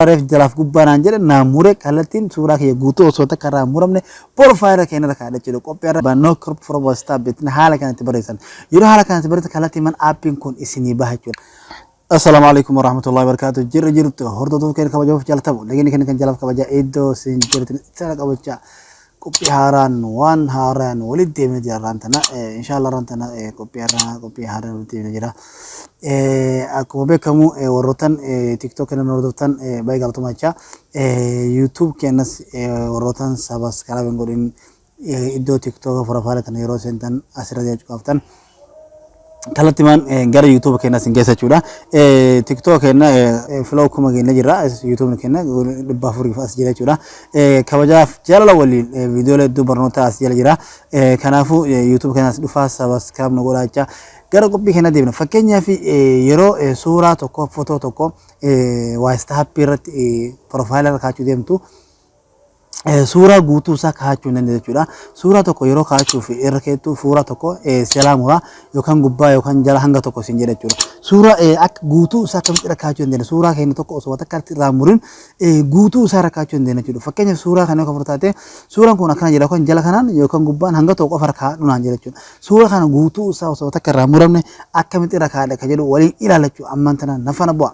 Suuraa reef jalaaf gubbaa naan jedhe naa mure kallattiin suuraa kiyya guutuu osoo takka irraa hin muramne porfaayila keenya irra kaa'adha jechuudha. Qophii irra bannoo crop for WhatsApp bittin haala kanatti barreessan. Yeroo haala kanatti barreessan kallattiin man aappiin kun isinii baha jechuudha. Assalaamu alaikum warahmatullahi wabarakatuh. Jirra jirtu hordoftoota keenya kabajamuuf jaalatamu. Lagini keenya kan jalaaf kabajaa iddoo isin jirtan sana qabachaa. Qophii haaraan waan haaraan walitti deemee jira irraan tana. Inshaallah irraan tana qophii haaraa qophii haaraan walitti deemee jira. Akkuma beekamu warrootan TikTok keenya hordoftan baay'ee galatoomaa jecha. YouTube keenyas warrootan sabaskaraab hin godhin iddoo TikTok furafaala tana yeroo seentan asirra jechuu qabdan. kallattimaan gara YouTube keenyaa sin geessa jechuudha. TikTok keenna flow kuma keenya jira. YouTube keenna dhibba afuriif as jira jechuudha. Kabajaaf jaalala waliin viidiyoolee hedduu barnootaa as jala jira. Kanaafuu YouTube keenyas dhufaa sabaskiraab nu godhaa jecha. Gara qophii keenyaa deebina. Fakkeenyaaf yeroo suuraa tokko fotoo tokko waayista haappii irratti piroofaayilaa irra kaachuu deemtu eh, suuraa guutuu isaa kaa'achuu hin dandeessu jechuudha. Suuraa tokko yeroo kaa'achuuf irra keettu suuraa tokko eh, selaa muraa yookaan gubbaa yookaan jala hanga tokko isin jedha jechuudha. Suuraa eh, akka guutuu isaa akkamitti irra kaa'achuu hin dandeessu. Suuraa keenya tokko osoo takka irratti irraa hin murin eh, guutuu isaa irra kaa'achuu hin dandeessu jechuudha. Fakkeenyaaf suuraa kana kan fudhatate suuraan kun akkana jedha yookaan jala kanaan yookaan gubbaan hanga tokko qofa irra kaa'adhu naan jedha jechuudha. Suuraa kana guutuu isaa osoo takka irraa hin muramne akkamitti irra kaa'adha kan jedhu waliin ilaalla jechuudha. Ammaan tanaan na faana bu'aa.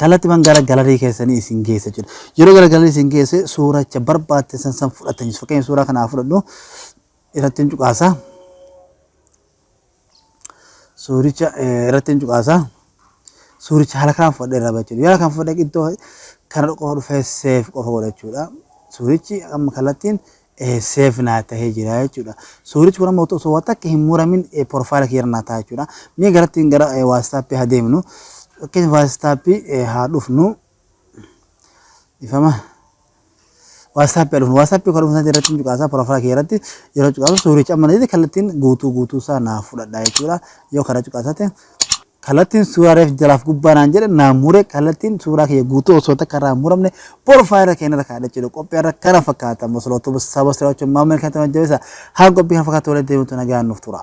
Kallattiman gara galarii keessanii isin geessa jechuudha. Yeroo gara galarii isin geesse suuracha barbaadtesan san fudhattan jechuudha. Fakkeenya suuraa kanaa fudhadhu irratti hin cuqaasa. Suuricha irratti hin cuqaasa. Suuricha haala kanaan fudhadhe irraa ba'a jechuudha. Yoo haala kanaan fudhadhe iddoo kana qofa dhufee seef qofa godha jechuudha. Suurichi amma kallattiin safe naa tahee jira jechuudha. Suurichi kun amma osoo waa takka hin muramin porofaayila kiyya irra naa ta'a jechuudha. Mee garatti gara waastaappii haa deemnu. Fakkeenya waastaappii haa dhufnu. Ifama. Waastaappii haa dhufnu. Waastaappii kan dhufnu irratti hin cuqaasaa porofaayila kiyya irratti yeroo cuqaasu suurichi amma na jedhe kallattiin guutuu guutuu isaa naa fudhadha jechuudha. Yoo kana cuqaasate Kallattiin suuraa reef jalaaf gubbaa naan jedhe naan mure kallattiin suuraa kiyya guutuu osoo takka irraa muramne porfaayila keenya irra kaa'adha jechuudha. Qophii irra kana fakkaata masalootuu saba siraachuun maamila kan ta'an jabeessa haa qophii kan fakkaatu waliin deemutu nagaan nuuf tura.